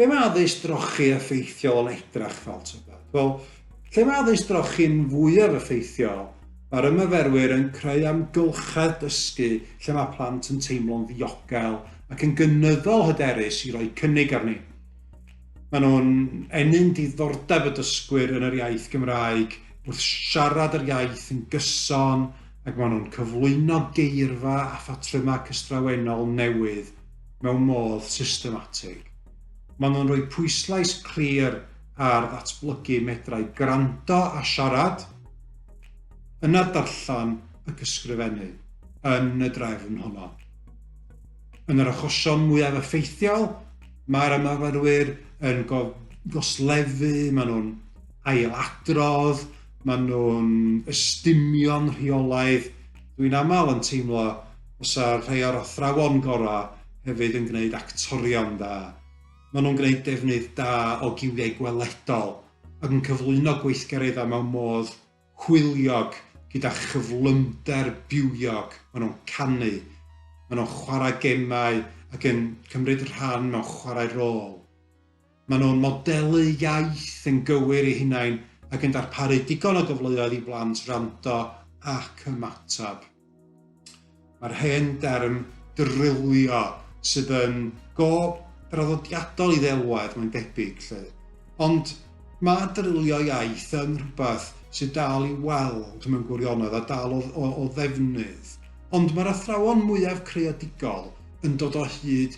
Be mae addysg drochi effeithiol yn edrach fel tybed? Wel, lle mae addysg drochi'n fwyaf effeithiol, mae'r ymaferwyr yn creu amgylchedd dysgu lle mae plant yn teimlo'n ddiogel ac yn gynyddol hyderus i roi cynnig arni. Maen nhw'n ennyn diddordeb y dysgwyr yn yr iaith Gymraeg wrth siarad yr iaith yn gyson ac maen nhw'n cyflwyno geirfa a phatrymau cystrawennol newydd mewn modd systematig. Maen nhw'n rhoi pwyslais clir ar ddatblygu medrau gwrando a siarad, yna darllen ac ysgrifennu, yn y drefn honno. Yn yr achosion mwyaf effeithiol, mae'r ymarferwyr yn goslefu, maen nhw'n ailadrodd, Maen nhw'n ystumio'n rheolaidd. Dwi'n aml yn teimlo os a rhai o'r athrawon gorau hefyd yn gwneud actorion da. Maen nhw'n gwneud defnydd da o giwiau gweledol ac yn cyflwyno gweithgareddau mewn modd hwyliog gyda chyflymder bywiog. Maen nhw'n canu, maen nhw'n chwarae gemau ac yn cymryd rhan mewn chwarae rôl. Maen nhw'n modelu iaith yn gywir eu hunain ac yn darparu digon o gyfleoedd i blant wrando ac ymateb. Mae'r hen derm drilio sydd yn go draddodiadol i ddelwedd, mae'n debyg, lle. Ond mae drilio iaith yn rhywbeth sydd dal i weld mewn gwirionedd a dal o, o, o ddefnydd. Ond mae'r athrawon mwyaf creadigol yn dod o hyd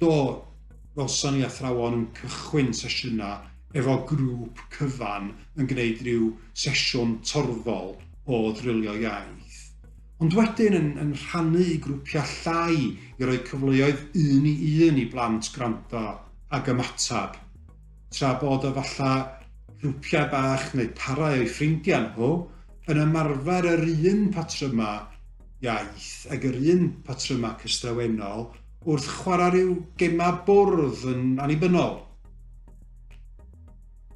Do, welson ni athrawon yn cychwyn sesiynau efo grŵp cyfan yn gwneud rhyw sesiwn torfol o ddrilio iaith. Ond wedyn yn, yn rhannu i grwpiau llai i roi cyfleoedd un i un i blant gwrando ac ymateb. Tra bod o falla grwpiau bach neu parau o'i ffrindiau nhw yn ymarfer yr un patrymau iaith ag yr un patrymau cystrawennol wrth chwarae rhyw gemau bwrdd yn annibynnol.